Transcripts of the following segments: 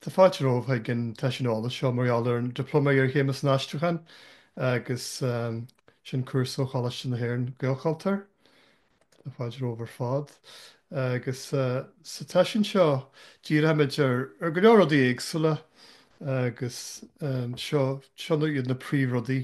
Tá fáilte romhaibh ag an tseisiún eolais seo mar gheall ar an Dioplóma Iarchéime san Aistriúchán agus sin cúrsa ó Choláiste na hÉireann, Gaelchultúr. Tá fáilte romhaibh ar fad agus sa tseisiún seo díreoimid ar go leor rudaí éagsúla agus seo iad na príomhrudaí.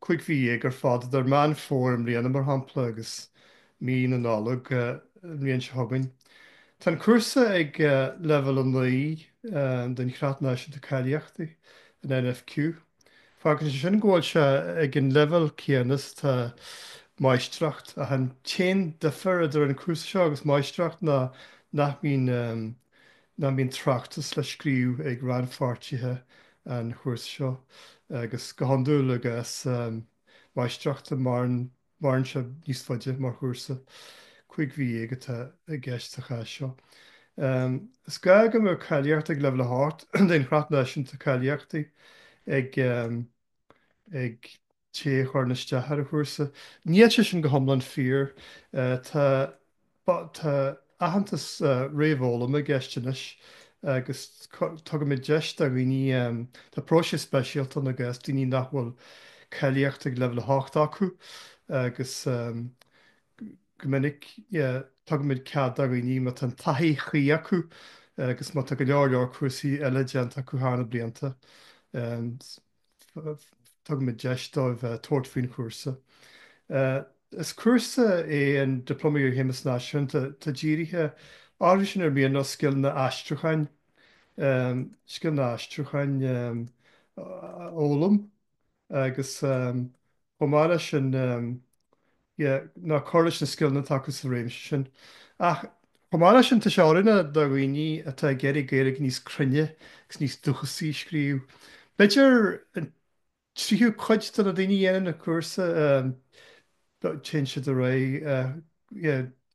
cúig mhí dhéag ar fad idir Meán Fómhair i mbliana, mar shampla, agus mí na Nollag an bhliain seo chugainn. Tá an cúrsa ag Leibhéal 9 den Chreat Náisiúnta Cáilíochtaí, an NFQ. Fágann sé sin go bhfuil sé ag an leibhéal céanna is atá máistreacht, ach an t-aon difear idir an cúrsa seo agus máistreacht ná nach mbíonn nach mbíonn tráchtas le scríobh ag rannpháirtithe an chúrsa seo agus go hiondúil i gcás máistreachta maireann sé níos faide mar chúrsa, cúig mhí dhéag atá i gceist sa chás seo. Is gá go mbeadh cáilíocht ag Leibhéal 8 den Chreat Náisiúnta Cáilíochtaí ag. té a chuireann isteach ar an chúrsa. Níl sé sin go hiomlán fíor. Tá Tá aitheantas réamhfhoghlama i gceist anois agus tugaimid deis do dhaoine Tá próiseas speisialta ann i gcás daoine nach bhfuil cáilíocht ag Leibhéal 8 acu agus go minic tugaimid cead do dhaoine má tá an taithí chuí acu agus má tá go leor leor cúrsaí eile déanta acu thar na blianta Tugaimid deis dóibh tabhairt faoin chúrsa. Is cúrsa é an Dioplóma Iarchéime san Aistriúchán atá dírithe orthu sin ar mian leo scileanna aistriúcháin, scileanna aistriúcháin a fhoghlaim agus Chomh maith leis sin, yeah, nó cur leis na scileanna atá acu sa réimse sin. Ach chomh maith leis sin, tá sé oiriúnach do dhaoine atá ag iarraidh Gaeilge níos cruinne agus níos dúchasaí a scríobh. B'fhéidir an tríú cuid de na daoine a dhéanann an cúrsa, téann siad ar aghaidh.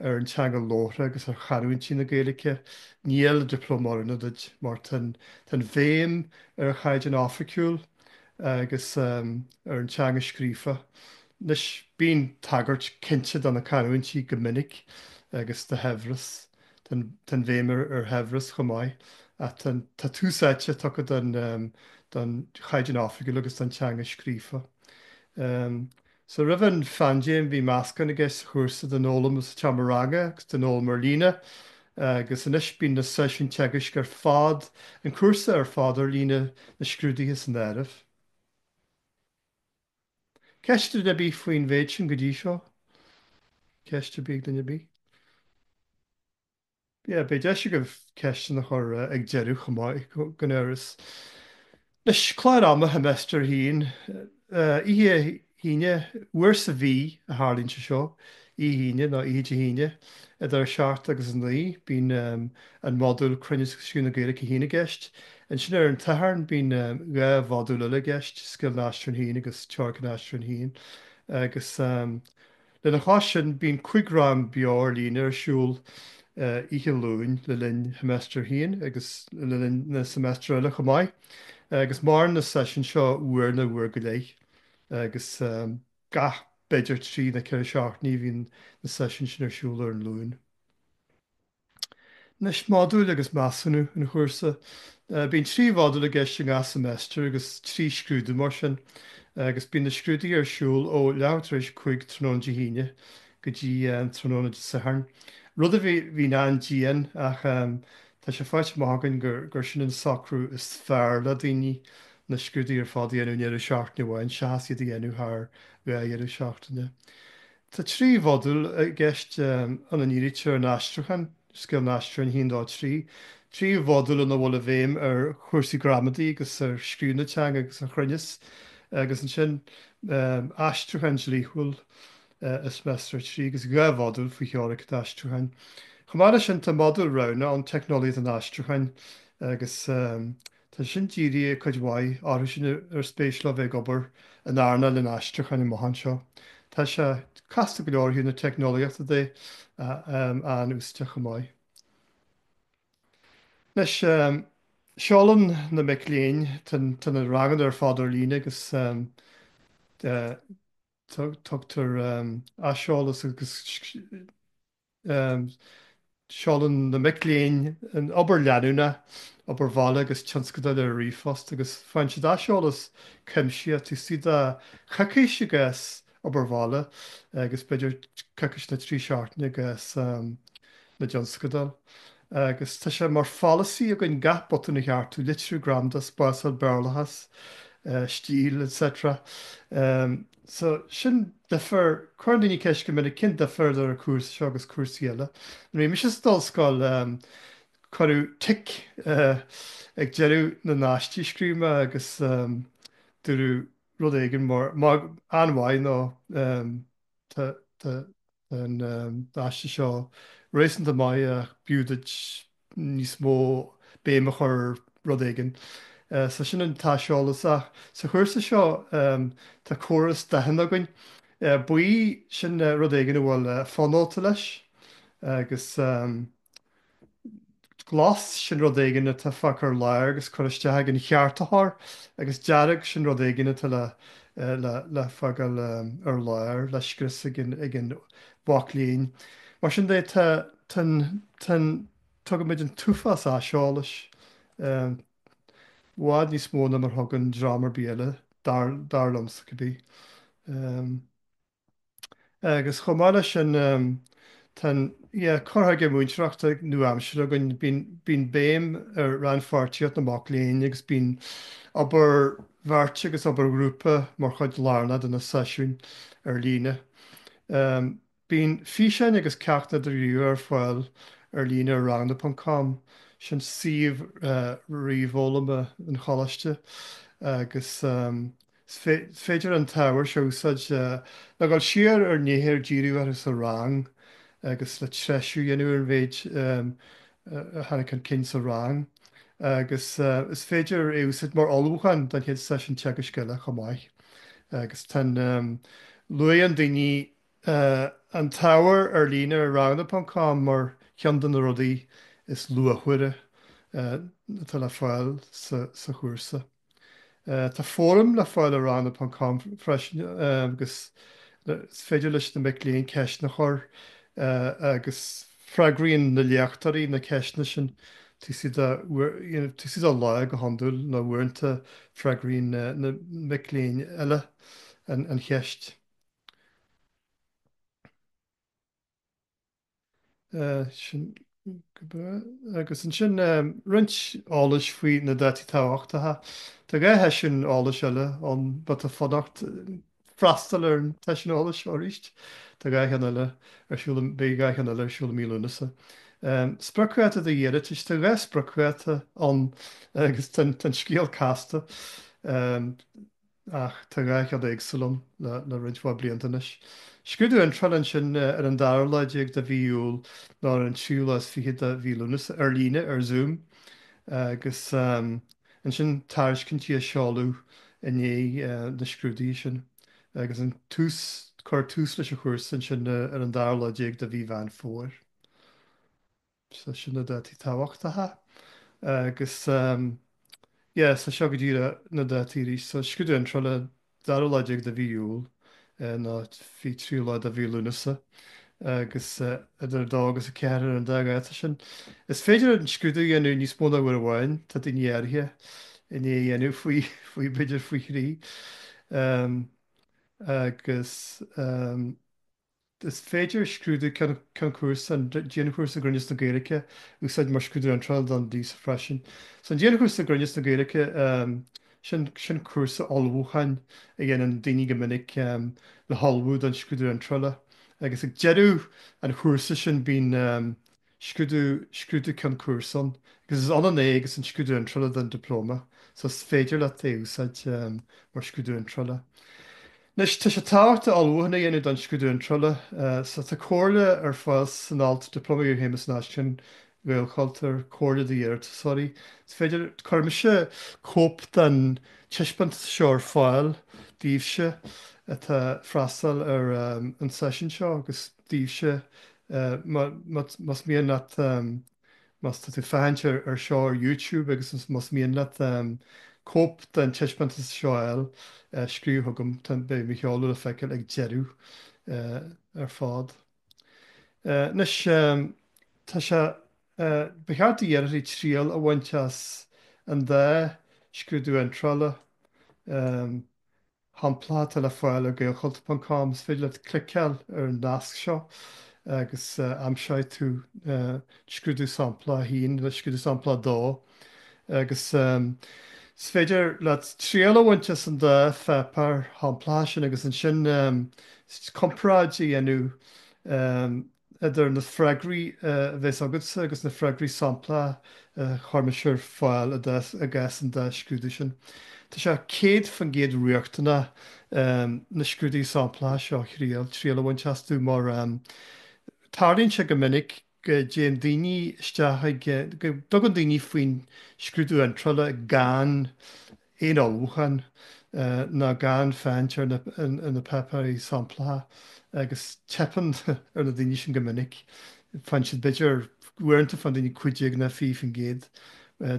ar an teanga labhartha agus ar chanúintí na Gaeilge, níl an dioplóma oiriúnach duit mar tá an bhéim ar an chaighdeán oifigiúil agus ar an teanga scríofa. Anois, bíonn tagairt cinnte do na canúintí go minic agus do shaibhreas, tá an bhéim ar shaibhreas chomh maith ach tá tús áite tugtha don chaighdeán oifigiúil agus don teanga scríofa. Sea, roimh an phaindéim bhí meascán i gceist sa chúrsa den fhoghlaim sa tseomra ranga agus den fhoghlaim ar líne agus anois bíonn na seisiúin teagaisc ar fad, an cúrsa ar fad ar líne, na scrúduithe san áireamh. Ceist ag duine ar bith faoin mhéid sin go dtí seo? Ceist ar bith ag duine ar bith? yeah beidh deis agaibh ceisteanna a chur ag an deireadh chomh maith gan amhras. Anois, clár ama sheimeastair 1, oíche hAoine, uair sa mhí a tharlaíonn sé seo, oíche Aoine nó oíche Dé hAoine idir 7 agus 9, bíonn an modúl cruinneas agus scríobh na Gaeilge 1 i gceist. Ansin ar an tSatharn bíonn dhá mhodúl eile i gceist, scileanna aistrithe 1 agus teoiric an aistrithe 1 agus. Lena chois sin, bíonn cúig rang beo ar líne ar siúl oíche Luain le linn Sheimeastar 1 agus le linn na seimeastar eile chomh maith agus maireann na seisiúin seo uair nó uair go leith agus gach, b'fhéidir, trí nó ceithre seachtainí a bhíonn na seisiúin sin ar siúl ar an Luan. Anois, modúil agus measúnú an chúrsa. Bíonn trí mhodúl i gceist i ngach seimeastar agus trí scrúdú mar sin agus bíonn na scrúduithe ar siúl ó leathuair tar éis cúig tráthnóna Dé hAoine go dtí tráthnóna Dé Sathairn, rud a bhíonn an-dian ach tá sé faighte amach againn gur sin an socrú is fearr le daoine, na scrúduithe ar fad a dhéanamh i ndeireadh seachtaine amháin seachas iad a dhéanamh thar dhá dheireadh seachtaine. Tá trí mhodúl i gceist, ina ndírítear ar an aistriúchán, Scileanna Aistrithe 1-3, trí mhodúl ina bhfuil an bhéim ar chúrsaí gramadaí agus ar scríobh na teanga agus ar chruinneas, agus ansin aistriúchán dlíthiúil i Seimeastar 3 agus dhá mhodúl faoi theoiric an aistriúcháin. Chomh maith leis sin, tá modúl roghnach ann, Teicneolaíocht an Aistriúcháin agus. Tá sin dírithe, cuid mhaith, orthu sin ar spéis leo bheith ag obair in earnáil an aistriúcháin amach anseo. Tá sé casta go leor ó thaobh na teicneolaíochta de, an-úsáideach chomh maith. Anois, seolann na mic léinn, tá na ranganna ar fad ar líne agus tugtar aiseolas agus. Seolann na mic léinn an obair leanúnach, obair bhaile agus tionscadail ar ríomhphost agus faigheann siad aiseolas cuimsitheach. Taobh istigh de choicís i gcás obair bhaile agus b'fhéidir coicís nó trí seachtaine i gcás na dtionscadal. Agus tá sé mar pholasaí againn gach botún a cheartú, litriú, gramadach, spásáil, Béarlachas, stíl, etc. So, sin difear. Cuireann daoine ceist go minic cén difear idir an chúrsa seo agus cúrsaí eile. Nuair a bhí mise san ollscoil, cuireadh tic ag deireadh na n-aistí a scríobh mé agus dúradh rud éigin mar, maith, an-mhaith, you know, tá, tá, Tá an aiste seo réasúnta maith ach b'fhiú duit níos mó béim a chur ar rud éigin, so sin an t-aiseolas. Ach sa chúrsa seo tá córas dathanna againn. Buí, sin rud éigin a bhfuil fonóta leis agus. Glas, sin rud éigin atá fágtha ar lár agus curtha isteach ag an cheartaitheoir agus Dearg, sin rud éigin atá le, le, le fágáil ar lár, le scrios ag an, ag an mhac léinn. Mar sin de, tá, tá an, tá an, tugaimid an t-uafás aiseolais, i bhfad níos mó ná mar thugann dream ar bith eile, dar, dar liomsa cibé. Agus chomh maith leis sin, tá an, yeah, cur chuige múinteoireachta nua-aimseartha againn, bíonn, bíonn béim ar rannpháirtíocht na mac léinn agus bíonn obair bheirt agus obair ghrúpa mar chuid lárnach de na seisiúin ar líne. Bíonn físeáin agus ceachtanna idirghníomhacha ar fáil ar líne ar ranganna ponc com, sin suíomh ríomhfhoghlama an choláiste, agus. Is féidir an t-ábhar seo a úsáid le dul siar ar nithe ar díriodh orthu sa rang agus le treisiú a dhéanamh ar an mhéid a tháinig chun cinn sa rang agus is féidir é a úsáid mar ullmhúchán don chéad seisiún teagaisc eile chomh maith agus tá an luann daoine an t-ábhar ar líne ar ranganna ponc com mar cheann de na rudaí is luachmhaire atá le fáil sa chúrsa. Tá fóram le fáil ar ranganna ponc com freisin agus is féidir leis na mic léinn ceisteanna a chur agus freagraíonn na léachtóirí na ceisteanna sin taobh istigh de lá go hiondúil nó uaireanta freagraíonn na mic léinn eile an cheist. Sin go breá. Agus ansin roinnt eolais faoi na dátaí tábhachtacha. Tá dhá sheisiún eolais eile ann má tá fonn ort freastal ar an tseisiún eolais arís. Tá dhá cheann eile ar siúl i, beidh dhá cheann eile ar siúl i mí Lúnasa. Spriocdháta d'iarratais, tá dhá spriocdháta ann agus tá an scéal casta. ach tá dhá cheann éagsúil ann le roinnt mhaith blianta anois. Scrúdú Iontrála ansin ar an dara lá déag de mhí Iúil nó ar an tríú lá is fiche de mhí Lúnasa, ar líne, ar Zoom, agus ansin tairiscintí á seoladh i ndiaidh na scrúduithe sin agus an tús, cuirfear tús leis an chúrsa ansin ar an dara lá déag de mhí Mheán Fómhair. So sin na dátaí tábhachtacha agus yeah so seo go díreach na dátaí arís. So scrúdú iontrála dara lá déag de mhí Iúil nó fi tríú lá de mhí Lúnasa agus idir a dó agus a ceathair ar an dá dháta sin. Is féidir an scrúdú a dhéanamh níos mó ná uair amháin, tá daoine éirithe i ndiaidh a dhéanamh faoi faoi b'fhéidir faoi thrí. Um agus um. Is féidir scrúdú ceann cúrsa, an Dianchúrsa i gCruinneas na Gaeilge, a úsáid mar scrúdú iontrála don dias freisin. So an Dianchúrsa i gCruinneas na Gaeilge, sin cúrsa ullmhúcháin a dhéanann daoine go minic le hullmhú don scrúdú iontrála agus ag deireadh an chúrsa sin bíonn. scrúdú, scrúdú ceann cúrsa ann agus is ionann é agus an scrúdú iontrála don Dioplóma so is féidir leat é a úsáid mar scrúdú iontrála. Anois, tá sé tábhachtach ullmhúchán a dhéanamh don scrúdú iontrála so tá comhairle ar fáil san alt Dioplóma Iarchéime san Aistriúchán Ghaelchultúir, Comhairle d'Iarratasóirí. Is féidir, cuirfidh mise cóip den taispeántas seo ar fáil daoibhse atá ag freastal ar an seisiún seo agus. daoibhse. Más mian leat, má tá tú ag féachaint ar seo ar YouTube agus más mian leat cóip den taispeántas seo a fháil, scríobh chugam. Beidh mo sheoladh le feiceáil ag deireadh ar fad. Anois, tá sé, ba cheart d'iarrthóirí triail a bhaint as an dá scrúdú iontrála. shamplacha atá le fáil ar gaelchultur.com, is féidir leat cliceáil ar an nasc seo agus aimseoidh tú scrúdú samplach 1 agus scrúdú samplach 2 agus is féidir leat triail a bhaint as an dá pháipéar shamplacha sin agus ansin comparáid a dhéanamh idir na freagraí a bheas agatsa agus na freagraí samplacha a chuirimidne ar fáil i gcás an dá scrúdú sin. Tá sé 100% riachtanach na scrúduithe samplacha seo a thriail, triail a bhaint astu, mar tarlaíonn sé go minic go dtéann daoine isteach ag, go dtugann daoine faoin scrúdú iontrála gan, aon ullmhúchán ná gan féachaint ar na páipéirí samplacha agus teipeann ar na daoine sin go minic. Faigheann siad b'fhéidir, uaireanta faigheann daoine 15 nó 20%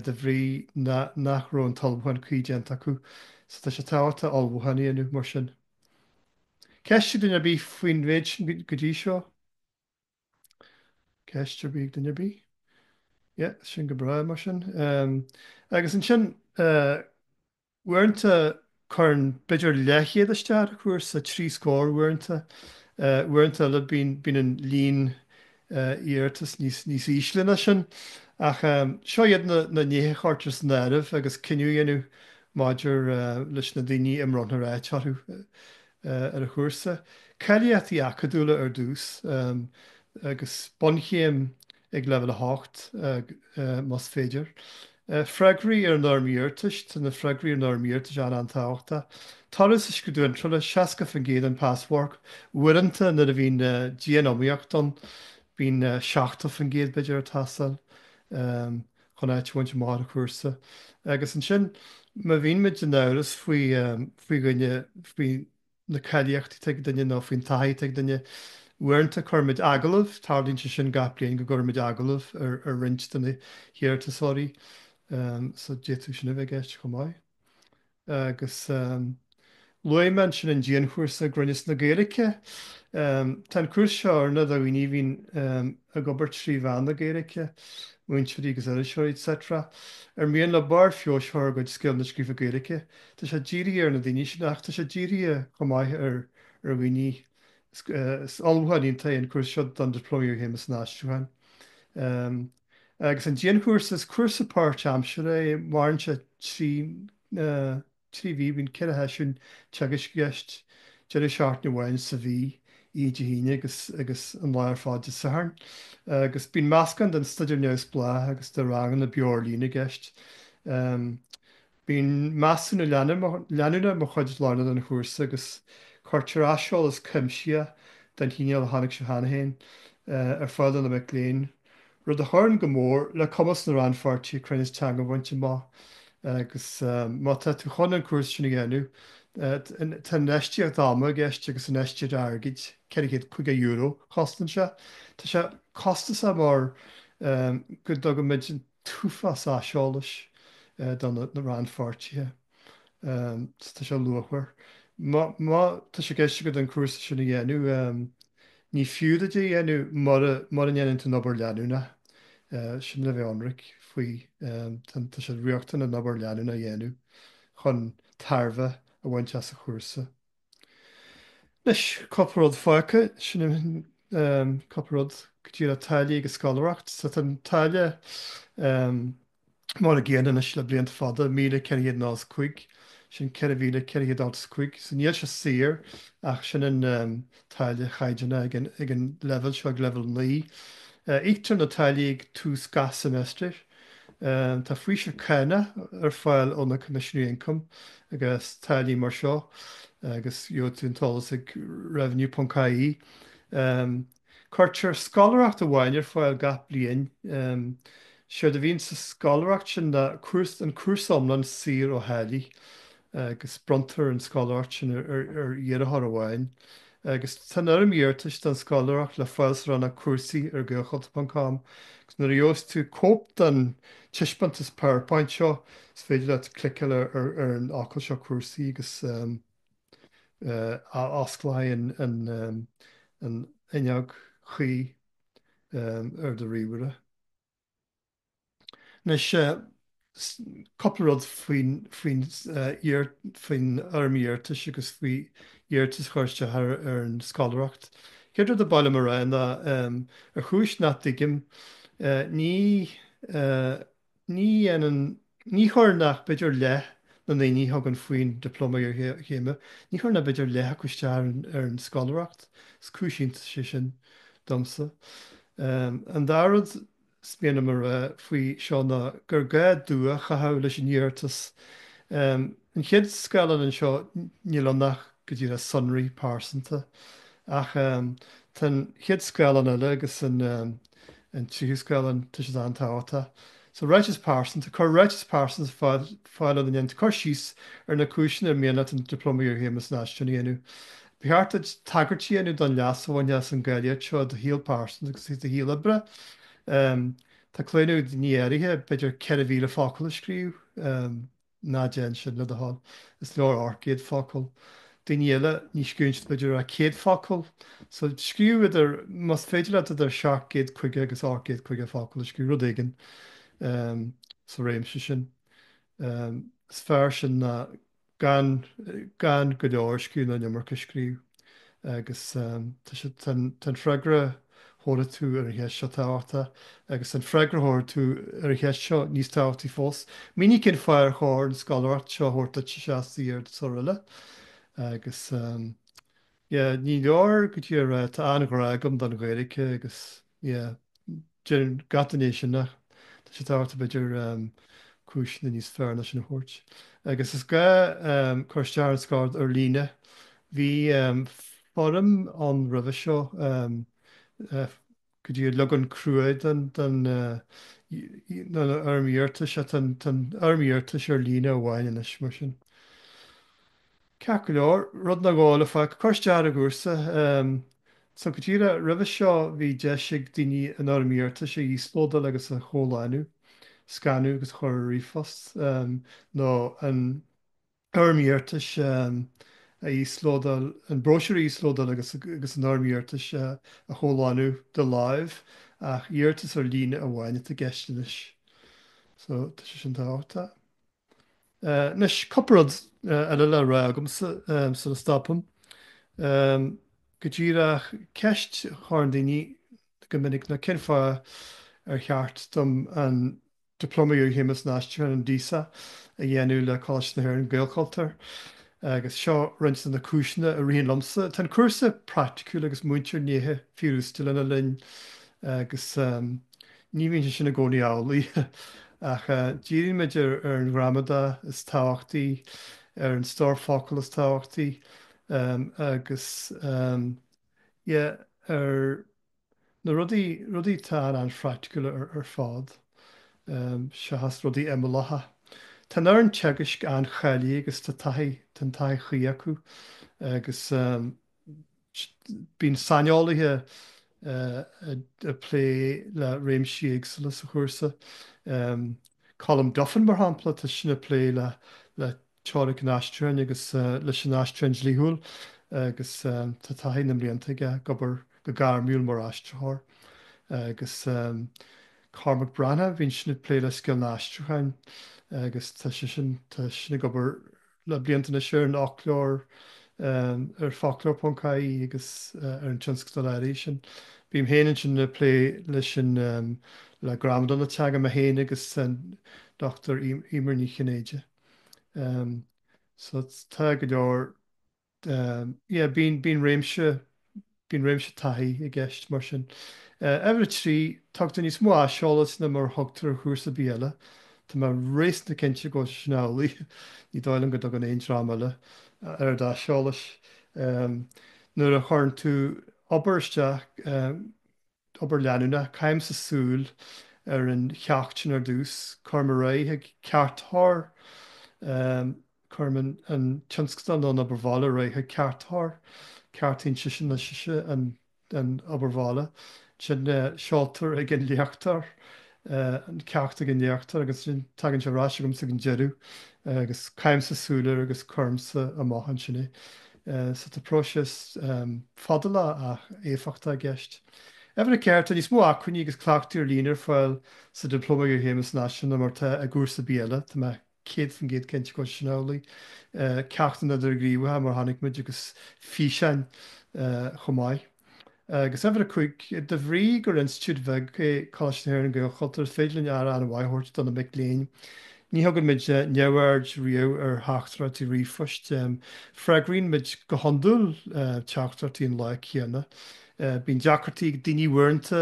de bhrí nach raibh an t-ullmhúchán cuí déanta acu. So tá sé tábhachtach ullmhúchán a dhéanamh mar sin. Ceist ag duine ar bith faoin mhéid sin go dtí seo? Ceist ar bith ag duine ar bith? Yeah, sin go breá mar sin. Agus ansin, uaireanta cuireann b'fhéidir leathchéad isteach ar chúrsa, trí scór uaireanta. Uaireanta eile bíonn an líon iarratas níos ísle ná sin. Ach seo iad na nithe a chuirtear san áireamh agus cinneadh á dhéanamh maidir leis na daoine a mbronntar áit orthu. ar an chúrsa. Cáilíochtaí acadúla ar dtús agus bunchéim ag Leibhéal 8 más féidir. Freagraí ar an Fhoirm Iarratais, Tá na freagraí ar an Fhoirm Iarratais an-tábhachtach. Toradh sa scrúdú iontrála, 60% an pasmharc, uaireanta nuair a bhíonn dianiomaíocht ann bíonn 70% b'fhéidir ag teastáil. chun áit a bhaint amach ar an chúrsa. Agus ansin, má bhíonn muid in amhras faoi faoi dhuine, faoi na cáilíochtaí atá ag duine nó faoin taithí atá ag duine, uaireanta cuirimid agallamh, tarlaíonn sé sin gach bliain go gcuirimid agallamh ar roinnt de na hiarratasóirí, so d'fhéadfadh sin a bheith i gceist chomh maith. agus luaigh mé ansin an dianchúrsa i gCruinneas na Gaeilge. Tá an cúrsa seo oiriúnach do dhaoine a bhíonn ag obair trí mheán na Gaeilge, múinteoirí agus iriseoirí etc, ar mian leo barr feabhais a chur ar a gcuid scileanna scríofa Gaeilge. Tá sé dírithe ar na daoine sin ach tá sé dírithe chomh maith ar dhaoine Is ullmhúchán iontach é an cúrsa seo don Dioplóma Iarchéime san Aistriúchán. Agus an dianchúrsa, is cúrsa páirtaimseartha é, maireann sé trí trí mhí, bíonn ceithre sheisiún teagaisc i gceist, deireadh seachtaine amháin sa mhí, oíche Dé hAoine agus agus an lá ar fad Dé Sathairn. Agus bíonn meascán den staidéar neamhspleách agus de ranganna beo ar líne i gceist. Bíonn measúnú leanúnach mar chuid lárnach den chúrsa agus cuirtear aiseolas cuimsitheach, den chineál a chonaic sibh cheana féin, ar fáil do na mic léinn, rud a chuireann go mór le cumas na rannpháirtithe cruinneas teanga a bhaint amach agus má tá tú chun an cúrsa sin a dhéanamh tá infheistíocht ama i gceist agus infheistíocht airgid, €450 a chosnaíonn sé. Tá sé costasach mar go dtugann muid an. t-uafás aiseolais do na rannpháirtithe so tá sé luachmhar. Má tá sé i gceist agat an cúrsa sin a dhéanamh, ní fiú duit é a dhéanamh mura ndéanann tú an obair leanúnach sin le bheith ionraic faoi. Tá sé riachtanach an obair leanúnach a dhéanamh chun tairbhe a bhaint as an chúrsa. Anois, cúpla rud fágtha, sin an cúpla rud go díreach táillí agus scoláireacht. Tá an táille mar an gcéanna anois le blianta fada, míle ceithre chéad nócha is a cúig, sin ceithre mhíle ceithre chéad ochtó is a cúig. So níl sé saor ach sin an táille chaighdeánach ag an leibhéal seo, ag leibhéal naoi. Íoctar na táillí ag tús gach seimeastair. Tá faoiseamh cánach ar fáil ó na Coimisinéirí Ioncaim i gcás táillí mar seo agus gheobhaidh tú an t-eolas ag revenue.ie. Cuirtear scoláireacht amháin ar fáil gach bliain. Séard a bhíonn sa scoláireacht sin ná an cúrsa iomlán saor ó tháillí. agus bronntar an scoláireacht sin ar iarrthóir amháin agus tá an fhoirm iarratais don scoláireacht le fáil sa rannóg cúrsaí ar gaelchultur.com agus nuair a gheobhas tú cóip den taispeántas PowerPoint seo is féidir leat cliceáil ar an fhocal seo cúrsaí agus osclóidh an fhuinneog chuí ar do ríomhaire. Anois, cúpla rud faoin fhoirm iarratais agus faoi iarratas a chur isteach ar an scoláireacht. Chéad rud a ba mhaith liom a rá ná, ar chúis nach dtuigim, ní dhéanann, ní chuireann ach b'fhéidir leath na ndaoine a thugann faoin Dioplóma Iarchéime, ní chuireann ach b'fhéidir leath acu isteach ar an scoláireacht. Is cúis iontais é sin domsa. An dara rud. is mian liom a rá faoi seo ná gur gá dua a chaitheamh leis an iarratas. An chéad scáileán anseo, níl ann ach go díreach sonraí pearsanta. Ach tá an chéad scáileán eile agus an tríú scáileán, tá siad an-tábhachtach. So, ráiteas pearsanta. Cuir ráiteas pearsanta ar fáil ina ndéanann tú cur síos ar na cúiseanna ar mian leat an Dioplóma Iarchéime san Aistriúchán a dhéanamh. Ba cheart duit tagairt a dhéanamh don leas a bhainfidh tú as an gcáilíocht seo i do shaol pearsanta agus i do shaol oibre. Tá claonadh ag daoine áirithe, b'fhéidir 4,000 focal a scríobh. Ná déan sin, le do thoil. Is leor 800 focal. Daoine eile, ní scríobhann siad b'fhéidir ach 100 focal. So, scríobh idir, más féidir leat, idir 750 agus 850 focal a scríobh, rud éigin sa réimse sin. Is fearr sin ná Gan gan go leor scríobh ná an iomarca scríobh agus tá sé tá an freagra thabharfaidh tú ar an cheist seo tábhachtach agus an freagra thabharfaidh tú ar an cheist seo níos tábhachtaí fós. Mínigh cén fáth ar chóir an scoláireacht seo a thabhairt duit seachas d'iarratasóir eile agus yeah ní leor go díreach a rá tá an-ghrá agam don Ghaeilge agus yeah deireann gach duine é sin ach tá sé tábhachtach b'fhéidir cúiseanna níos fearr ná sin a thabhairt agus is gá cur isteach ar an scoláireacht ar líne bhí foirm ann roimhe seo go díreach leagan crua den den fhoirm iarratais tá an fhoirm iarratais ar líne amháin anois mar sin. Ceart go leor, rud nó dhó eile fá chur isteach ar an gcúrsa. So go díreach roimhe seo bhí deis ag daoine an Fhoirm Iarratais a íoslódáil agus a chomhlánú, scanadh agus a chur ar ríomhphost, nó an Fhoirm Iarratais a íoslódáil, an bróisiúr a íoslódáil agus an Fhoirm Iarratais a chomhlánú de láimh ach iarratas ar líne amháin atá i gceist anois. So tá sé sin tábhachtach. Anois, cupla rud eile le rá agamsa sula stopaim go díreach ceist a chuireann daoine go minic ná cén fáth ar cheart dom an Dioplóma Iarchéime san Aistriúchán, an DISA, a dhéanamh le Coláiste na hÉireann, Gaelchultúr? Agus seo roinnt de na cúiseanna a ritheann liomsa. Tá an cúrsa praiticiúil agus múintear nithe fíorúsáideacha lena linn agus Ní bhíonn sé sin i gcónaí amhlaidh ach díríonn muid ar an ghramadach is tábhachtaí, ar an stór focal is tábhachtaí agus yeah ar na rudaí, rudaí atá an-phraiticiúil ar fad seachas rudaí imeallacha. Tá an fhoireann teagaisc an-cháilithe agus tá taithí, tá an taithí chuí acu agus. Bíonn saineolaithe ag plé le réimsí éagsúla sa chúrsa. Colm Duffin, mar shampla, tá seisean ag plé le teoiric an aistriúcháin agus leis an aistriúchán dlíthiúil agus tá taithí na mblianta aige ag obair go gairmiúil mar aistritheoir. Agus Cormac Breathnach, bíonn seisean ag plé le scileanna aistriúcháin agus tá sé, tá seisean ag obair, Le blianta anois ar an fhoclóir, ar foclóir.ie agus ar an tionscadal áirithe sin. Bím féin ansin ag plé leis an, le gramadach na teanga, mé féin agus an Dr Emer Ní Chinnéide. So tá go leor yeah bíonn bíonn réimse bíonn réimse taithí i gceist mar sin. Uimhir a trí, tugtar níos mó aiseolas ná mar a thugtar ar chúrsa ar bith eile. Tá mé réasúnta cinnte go bhfuil sé sin amhlaidh. Ní dóigh liom go dtugann aon dream eile a oiread aiseolais. Nuair a chuireann tú obair isteach, obair leanúnach. Caithimse súil ar an cheacht sin ar dtús, cuirim ar aghaidh chuig ceartaitheoir, cuirim an tionscadal nó an obair bhaile ar aghaidh chuig ceartaitheoir, ceartaíonn seisean nó sise an obair bhaile, ansin seoltar chuig an léachtóir, an ceacht chuig an léachtóir agus ansin tagann sé ar ais chugamsa ag an deireadh agus caithimse súil air agus cuirimse amach ansin é. So, tá próiseas fadálach ach éifeachtach i gceist. Uimhir a ceathair, tá níos mó acmhainní agus cleachtaidh ar líne ar fáil sa Dioplóma Iarchéime san Aistriúchán ná mar atá i gcúrsa ar bith eile. Tá mé 100% cinnte go bhfuil sé sin amhlaidh. Ceachtanna idirghníomhacha mar a chonaic muid agus físeáin chomh maith. agus uimhir a cúig, de bhrí gur institiúid bheag é Coláiste na hÉireann Gaelchultúr is féidir linn aire an-mhaith a thabhairt do na mic léinn. Ní thugann muid neamhaird riamh ar theachtaireachtaí ríomhphoist. Freagraíonn muid go hiondúil teachtaireachtaí an lá céanna. Bíonn deacrachtaí ag daoine uaireanta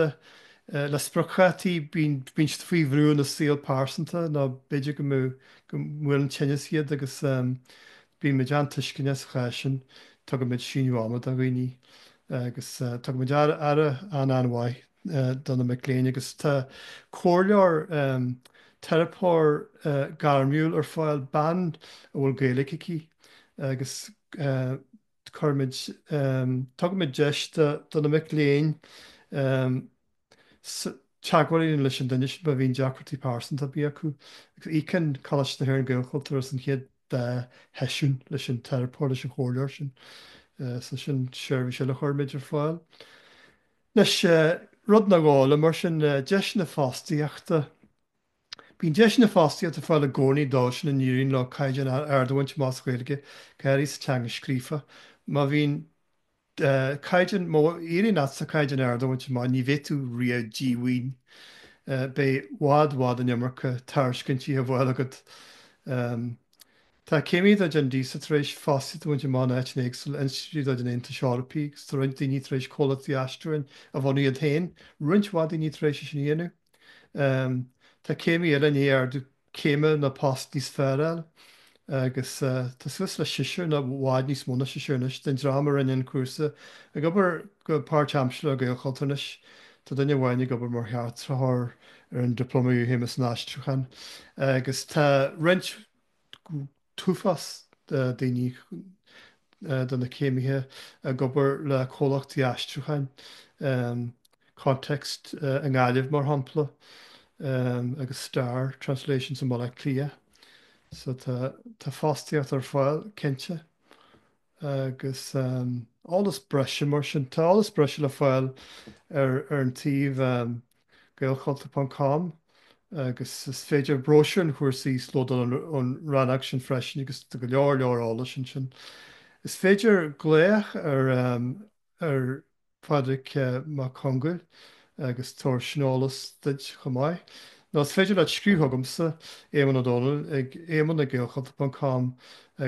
le spriocdhátaí, bíonn siad faoi bhrú ina saol pearsanta nó b'fhéidir go mbuaileann tinneas iad agus Bímid an-tuisceanach sa chás sin, tugaimid síneadh ama do dhaoine agus tugaimid aire an-an-mhaith do na mic léinn agus tá comhairleoir, teiripeoir gairmiúil ar fáil, bean a bhfuil Gaeilge aici agus cuirimid, tugaimid deis do na mic léinn. Teagmháil leis an duine sin má bhíonn deacrachtaí pearsanta ar bith acu agus íocann Coláiste na hÉireann, Gaelchultúr as an chéad dá sheisiún leis an teiripeoir, leis an chomhairleoir sin. So sin seirbhís eile a chuirimid ar fáil. Anois, rud nó dhó eile mar sin, deiseanna fostaíochta. Bíonn deiseanna fostaíochta ar fáil i gcónaí dóibh sin a n-éiríonn leo caighdeán ard a bhaint amach sa Ghaeilge, go háirithe sa teanga scríofa. Má bhíonn. caighdeán, má éiríonn leatsa caighdeán ard a bhaint amach, ní bheidh tú riamh díomhaoin. Beidh i bhfad, i bhfad an iomarca tairiscintí á bhfáil agat. Tá céimithe de chuid an DISA tar éis fostaíocht a bhaint amach in áiteanna éagsúla, institiúidí de chuid an Aontais Eorpaí, agus tá roinnt daoine tar éis comhlachtaí aistriúcháin a bhunú iad féin, roinnt mhaith daoine tar éis é sin a dhéanamh. Tá céimithe eile i ndiaidh ardú céime nó post níos fearr a fháil agus tá suas le seisear nó i bhfad níos mó ná seisear anois den dream a rinne an cúrsa ag obair go páirtaimseartha le Gaelchultúr anois. Tá duine amháin ag obair mar cheartaitheoir ar an Dioplóma Iarchéime san Aistriúchán agus tá roinnt t-uafás daoine, de na céimithe, ag obair le comhlachtaí aistriúcháin, Context i nGaillimh mar shampla, agus Star Translations i mBaile Átha Cliath. So tá fostaíocht ar fáil, cinnte. Agus eolas breise mar sin? Tá eolas breise le fáil ar an tsuíomh gaelchultur ponc com agus is féidir bróisiúr an chúrsa a íoslódáil ón rannóg sin freisin agus tá go leor leor eolais ansin. Is féidir glaoch ar Phádraig Mac Conghail agus tabharfaidh sé an t-eolas duit chomh maith. Nó is féidir leat scríobh chugamsa, Éamonn Ó Dónaill, ag éamonn ag gaelchultur ponc com agus.